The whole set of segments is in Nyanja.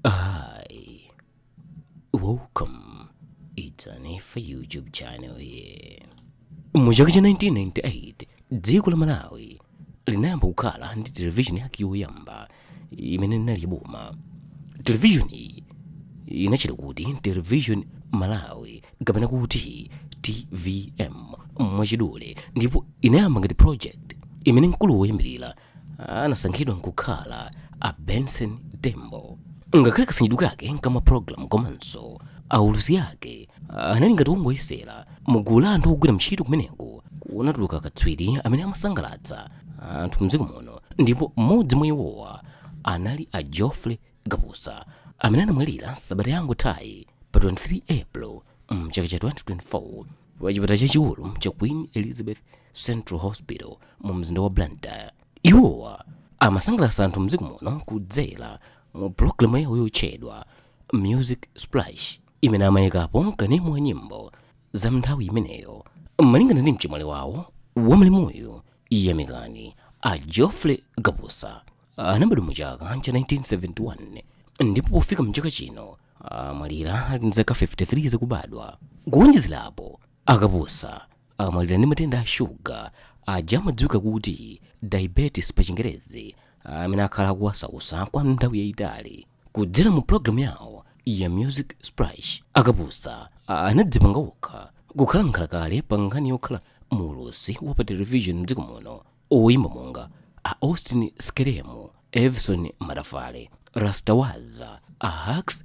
Hi, welcome. It's Anifa YouTube channel here. Mu chaka cha 1998 dziko la Malawi linayamba kukhala ndi televishoni yake yoyamba imene inali yaboma. Televishoni inatchedwa kuti television Malawi kapena kuti TVM mwachidule ndipo inayamba ngati project imene mkulu woyambirira anasankhidwa nkukhala a benson tembo ngakhale kasanjidwe kake ka mapulogalamu komanso aulusi ake anali ngati wongoyesera mugulu la anthu ogwira ntchito kumeneko kunatuluka katswiri amene amasangalatsa anthu mdziko muno ndipo mmodzi mwa iwowa anali a geoffrey kapusa amene anamwalira sabata yangothayi pa 23 april mchaka cha 2024 pachipatala chachikulu cha queen elizabeth central hospital mu mzinda wa blantyre iwowa amasangalatsa anthu mdziko muno kudzera mu pulogalamu yawo yotchedwa music splash imene amayikapo kanema wa nyimbo za mnthawi imeneyo malingana ndi mchimwali wawo wa malemuyu yamikani a geoffrey kapusa anabadwa mu chaka cha 1971 ndipo pofika mchaka chino amwalira ali ndi zaka 53 zakubadwa kuwonjezerapo A Kapusa amwalira ndi matenda a shuga aja amadziwika kuti diabetes pa chingerezi amene akhala akuwasausa kwa nthawi yayitali. Kudzera mu pulogalamu yawo ya Music Splash, a Kapusa anadzipanga okha kukhala nkhalakale pa nkhani yokhala muulusi wa pa television mdziko muno. Oyimba monga a Austin Skelemu, Evison Matafale, Rasta Waza, a Hax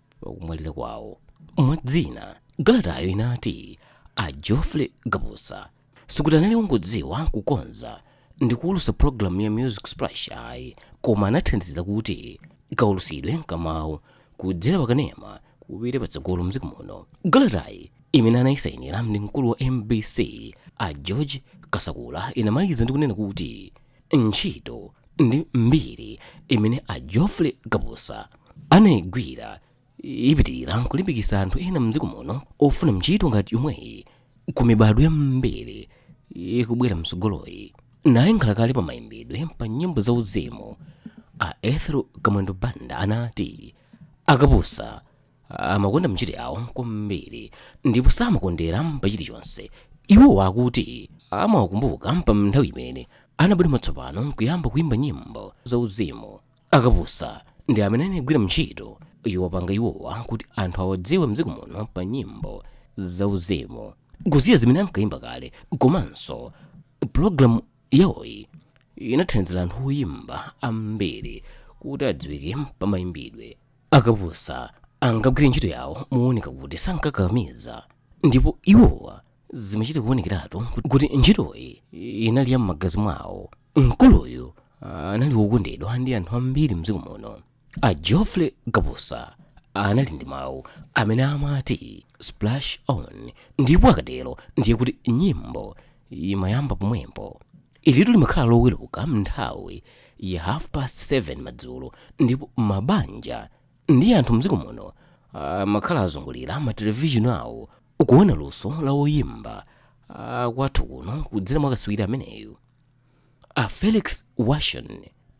pakumwalira kwawo mwa zina kalatayo inati a geoffrey kapusa sikuti anali wongodziwa kukonza ndi kuwulusa pulogalamu ya music splash ayi koma anathandizira kuti kawulusidwe kamawu kudzera pakanema kupite patsogolo mdziko muno kalatayi imene anayisayinira ndi mkulu wa mbc a george kasakula inamaliza ndi kunena kuti ntchito ndi mbiri imene a geoffrey kapusa anayigwira ipitirira nkulimbikitsa anthu ena mdziko muno ofuna ntchito ngati yomweyi ku mibadwo yambiri ikubwera mtsogoloyi naye nkhalakale pa mayimbidwe pa nyimbo za uzimu a ethel kamwendo banda anati a kapusa amakonda ntchito yawo kwambiri ndipo samakondera pa chilichonse iwo akuti amawakumbuka pa nthawi imene anabwera mwatsopano nkuyamba kuimba nyimbo zauzimu a kapusa ndi amene anagwira ntchito yowapanga iwowa kuti anthu awadziwe mdziko muno pa nyimbo zauzimu kusiya zimene ankaimba kale komanso pulogalamu yawoyi inathandizira anthu oyimba ambiri kuti adziwike pa mayimbidwe a kapusa ankagwira ntchito yawo mooneka kuti sankakakamiza ndipo iwowa zimachita kuonekeratu kuti ntchitoyi inali ya m'magazi mwawo mkuluyu anali wokondedwa ndi anthu ambiri mdziko muno a geoffrey kapusa anali ndi mawu amene amati splash on ndipo akatero ndiye kuti nyimbo imayamba pomwepo ilitu limakhala loweruka m'nthawi ya half past 7 madzulo ndipo mabanja ndi anthu mdziko muno amakhala azungulira matelevishini awo akuona luso la oyimba ah, kwathu kuno kudzera mwa katswiri ameneyu a felix washon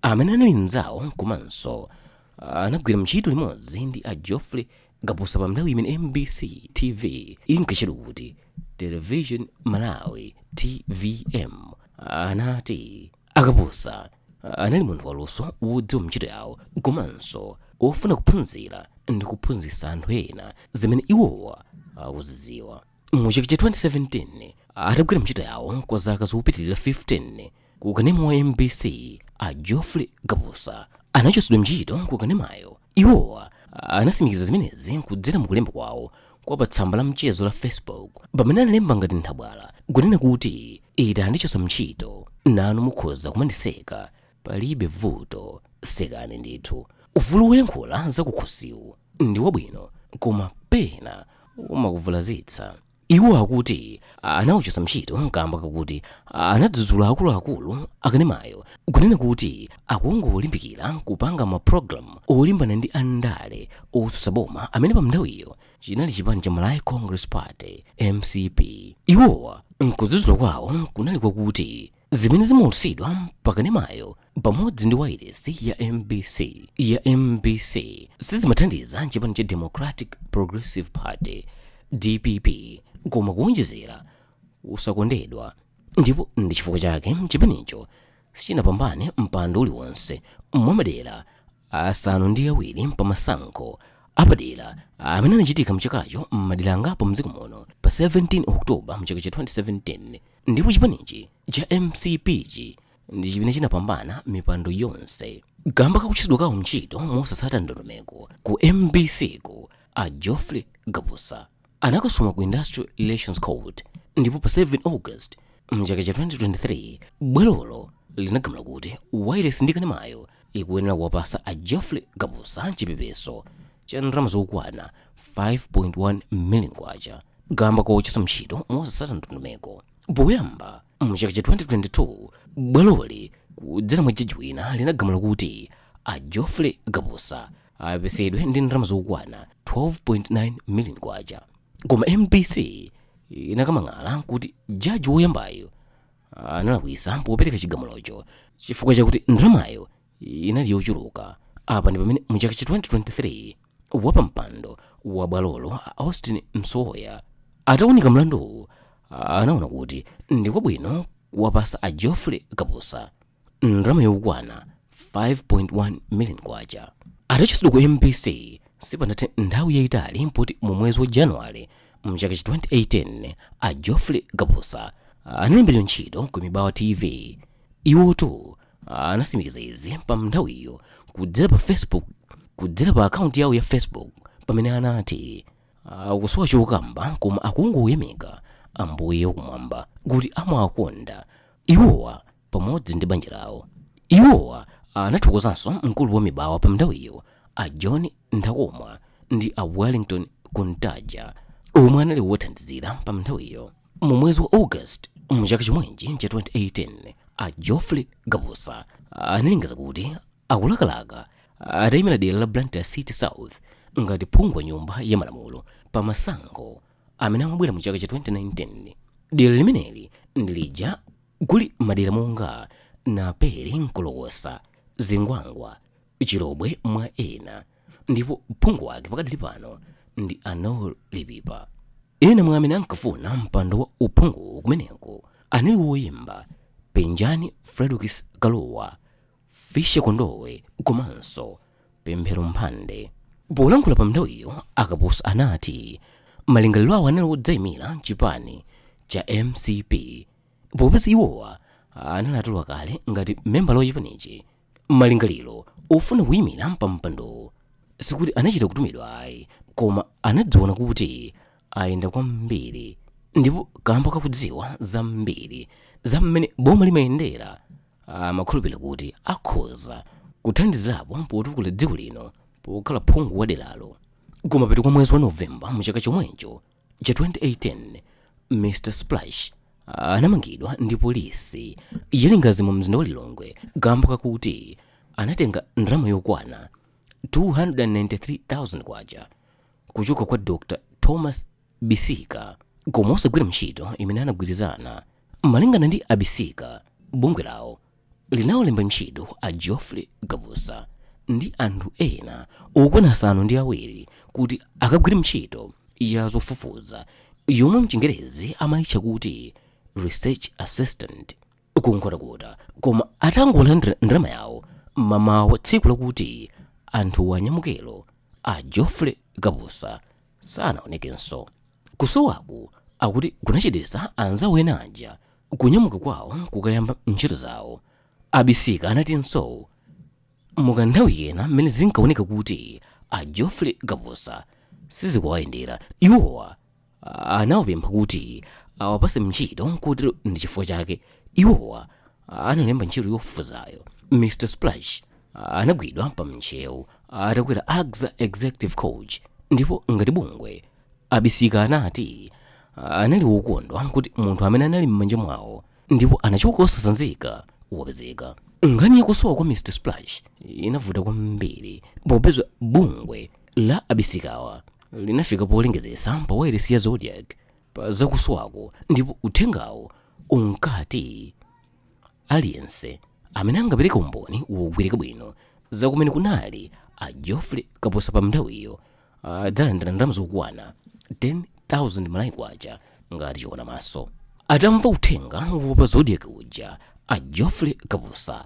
amene anali mnzawo komanso ah, anagwira ntchito limodzi ndi a geoffrey kapusa pa nthawi imene mbc tv inkatchedwa kuti television malawi tvm anati a kapusa anali munthu waluso wodziwa ntchito yawo komanso wofuna kuphunzira ndi kuphunzitsa anthu ena zimene iwowa akuzidziwa mu chaka cha 2017 atagwira ntchito yawo kwa zaka zopitirira 15 ku kanema wa mbc a geoffrey kapusa anachotsedwa ntchito ku kanemayo iwowa anasimikiza zimenezi kudzera mu kulemba kwawo kwa pa tsamba la mchezo la facebook pamene analemba ngati nthabwala kunena kuti ita andichotsa ntchito nanu mukhoza kumandiseka palibe vuto sekani ndithu ufulu woyankhula zakukhosiwu ndi wabwino koma pena umakuvulazitsa Iwo akuti anawachotsa ntchito kamba kakuti anadzudzula akuluakulu akanemayo kunena kuti akungolimbikira kupanga mapulogalamu olimbana ndi andale otsutsa boma amene pamnthawiyo chinali chipani cha Malawi Congress Party mcp. Iwowa mkudzudzula kwawo kunali kwakuti zimene zimaulutsidwa pa kanemayo pamodzi ndi wailesi ya mb ya mbc sizimathandiza chipani cha democratic progressive party dpp koma kuwonjezera usakondedwa ndipo ndi chifukwa chake chipanicho sichinapambane mpando uliwonse mwa madera asanu ndi awiri pa masankho apadera amene anachitika mchakacho m'madera angapo mdziko muno pa 17 oktoba mchaka cha 2017 ndipo chipanichi cha mcp-chi ndi chimene chinapambana mipando yonse kamba kakuchotsedwa kawo ntchito mosatsata ndondomeko ku mbc-ku a geoffrey kapusa anakasuma ku industrial relations court ndipo pa 7 august mchaka cha 2023 bwalolo linagamula kuti wailesi ndi kanemayo ikuyenera kuwapasa a Geoffrey Kapusa chipepeso cha ndalama zokwana 5.1 million kwacha kamba kochotsedwa ntchito mosasata ndondomeko poyamba mu chaka cha 2022 bwaloli kudzera mwa jaji wina linagamula kuti a Geoffrey Kapusa apepesedwe ndi ndalama zokwana 12.9 million kwacha koma mbc inakamang'ala kuti jaji woyambayo analakwisa popereka chigamulocho chifukwa chakuti ndalamayo inali yochuluka apa ndi pamene mu chaka cha 2023 wapampando wa bwalolo a austin msowoya ataunika mlanduwu anaona kuti ndi kwabwino kuwapasa a geoffrey kapusa ndalama yokwana 5.1 million kwacha atachotsedwa ku mbc sipanathe nthawi yayitali poti mu mwezi wa januwale mchaka cha 2018 a geoffrey kapusa analembedwa ntchito ku mibawa tv iwotu anasimikiza izi pa nthawiyo kudzera pa facebook kudzera pa akaunti yawo ya facebook pamene anati akusowa chokamba koma akungoyamika ambuye wakumwamba kuti amawakonda iwowa pamodzi ndi banja lawo. Iwowa anathokozanso mkulu wa mibawa pa mnthawiyo a John Nthakomwa ndi a Wellington Kuntaja omwe anali wothandizira pa mnthawiyo. Mu mwezi wa August mu chaka chomwechi cha 2018 a Geoffrey Kapusa analengeza kuti akulakalaka atayimira dera la Blantyre City South ngati phungu wa nyumba ya malamulo pa masankho amene amabwera mu chaka cha 2019. Dera limeneli ndi lija kuli madera monga naperi nkolokosa zingwangwa chilobwe mwa ena ndipo phungu wake pakadali pano ndi a noel lipipa ena mwa amene ankafuna mpando wa uphungu kumeneko anali woyimba penjani fredokiss kalua fischer kondowe komanso pemphero mphande polankhula pa mnthawiyo a kapusa anati malingaliro awo anali odzayimira chipani cha mcp popeza iwowa anali atalowa kale ngati membala wa chipanichi malingaliro ofuna kuyimira pampandowo sikuti anachita kutumidwa ayi koma anadziona kuti ayenda kwambiri ndipo kamba ka kudziwa zambiri za mmene boma limayendera amakhulupirira kuti akhoza kuthandizirapo potukula dziko lino pokhala phungu wa deralo kumapeto kwa mwezi wa novemba mu chaka chomwecho cha 2018 mr splash anamangidwa ndi polisi ya lingadzi mu mzinda wa lilongwe kamba kakuti anatenga ndalama yokwana 293,000 kwacha kuchoka kwa dr thomas bisika koma osagwira ntchito imene anagwirizana malingana ndi a bisika bungwe lawo linawalemba ntchito a Geoffrey Kapusa ndi anthu ena okwana asanu ndi awiri kuti akagwire ntchito ya zofufuza yomwe mchingerezi amayitcha kuti research assistant ku Nkhotakota koma atangolandira ndalama yawo mamawa tsiku lakuti anthuwa anyamukelo a Geoffrey Kapusa sanaonekenso Kusowaku akuti kunachedwetsa anzawo ena aja kunyamuka kwawo kukayamba ntchito zawo. A Bisika anatinso mu kanthawi kena mmene zinkaoneka kuti a Geoffrey Kapusa sizikuwayendera, iwowa anawapempha kuti awapatse ntchito kotero ndi chifukwa chake iwowa analemba ntchito yofufuzayo. Mr Splash anagwidwa pa Ntcheu atakwera Axa Executive Coach ndipo ngati bungwe, a bisika anati anali wokondwa kuti munthu amene anali m'manja mwawo ndipo anachoka osasanzika wapezeka nkhani yakusowa kwa mr splash inavuta kwambiri popeza bungwe la a bisikawa linafika polengezesa pa wailesi ya zodiak pa zakusowako ndipo uthengawo unkati aliyense amene angapereke umboni wogwirika bwino za kumene kunali a geoffrey kapusa pa nthawiyo adzalandira ndalama zokwana 10,000 malawi kwacha ngati chiona maso atamva uthenga wa pa zodiak uja a geoffrey kapusa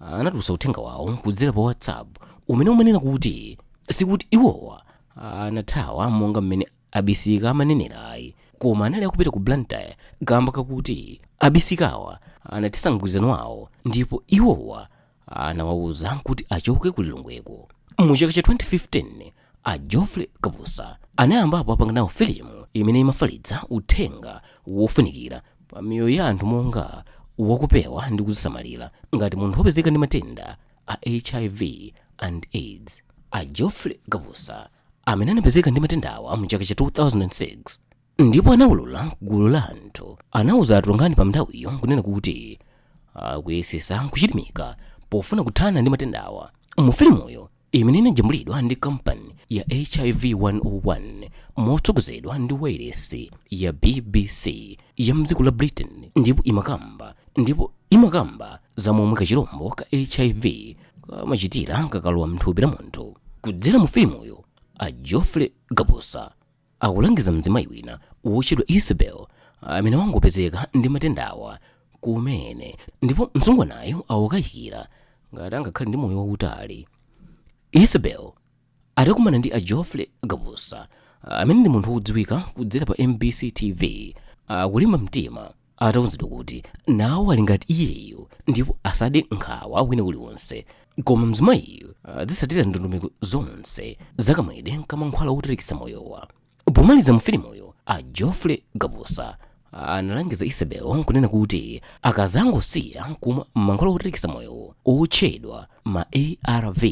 anatulutsa uthenga wawo kudzera pa whatsapp umene umanena kuti sikuti iwowa anathawa monga mmene a bisika amanenera ayi koma anali akupita ku blantyre kamba kakuti a bisikawa anathetsa mgwirizano wawo ndipo iwowa anawauza kuti achoke ku lilongweko mu chaka cha 2015 a geoffrey kapusa anayambapo apanga nawo filimu imene imafalitsa uthenga wofunikira pa miyoyo ya anthu monga wakupewa ndi kuzisamalira ngati munthu wopezeka ndi matenda a hiv and aids a geoffrey kapusa amene anapezeka ndi matendawa mu chaka cha 2006 ndipo anawulula ku gulu la anthu anawuza atolankhani pa nthawiyo kunena kuti akuyesesa kuchilimika pofuna kuthana ndi matendawa mu filimuyo imene inajambulidwa ndi kampani ya hiv 101 motsogozedwa ndi wailesi ya bbc ya mdziko la britain ndipo imakamba ndipo imakamba za momwe kachirombo ka hiv kamachitira kakalowa mthupi la munthu kudzera mu filimuyo a geoffrey kapusa akulangiza mzimayi wina wotchedwa isabel amene wangopezeka ndi matendawa kumene ndipo msungwanayo akukayikira ngati angakhale ndi moyo wautali isabel atakumana ndi a geoffrey kapusa amene ndi munthu wodziwika kudzera pa mbc tv akulimba mtima atauzidwa kuti nawo ali ngati iyeyo ndipo asade nkhawa wina uliwonse koma mzimayiyu adzisatira ndondomeko zonse zakamwedwe kamankhwala wotalikisa moyowa pomaliza mu filimuyo a geoffrey kapusa analangiza isabel nkunena kuti akazangosiya kumwa mankhwala wotalikisa moyowo otchedwa ma arv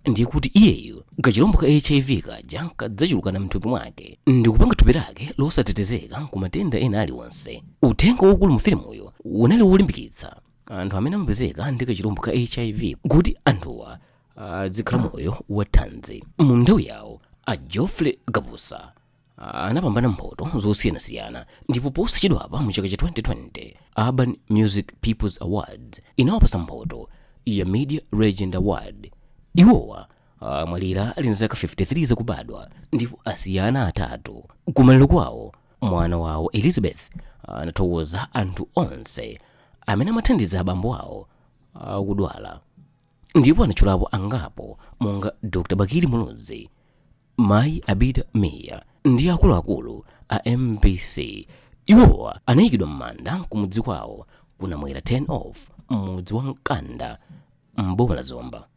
ndiye kuti iyeyo kachilombo ka hiv kaja kadzachulukana mthupi mwake ndikupanga thupi lake losatetezeka ku matenda ena aliwonse uthenga waukulu mu filimuyo unali wolimbikitsa anthu amene amapezeka ndi kachilombo ka hiv kuti anthuwa azikhala moyo wathanzi mu nthawi yawo a geoffrey kapusa anapambana mphoto zosiyanasiyana ndipo posachedwapa mu chaka cha 2020 urban music peoples awards inawapasa mphoto ya media legend award iwowa amwalira ali nzaka 53 zakubadwa ndipo asiya ana atatu kumaliro kwawo mwana wawo elizabeth anathokoza anthu onse amene amathandiza abambo awo akudwala ndipo anatchulapo angapo monga dr bakili muluzi mayi abida mia ndi akuluakulu a mbc iwowa anayikidwa m'manda kumudzi kwawo ku namwera turn off m'mudzi wa mkanda m'boma la zomba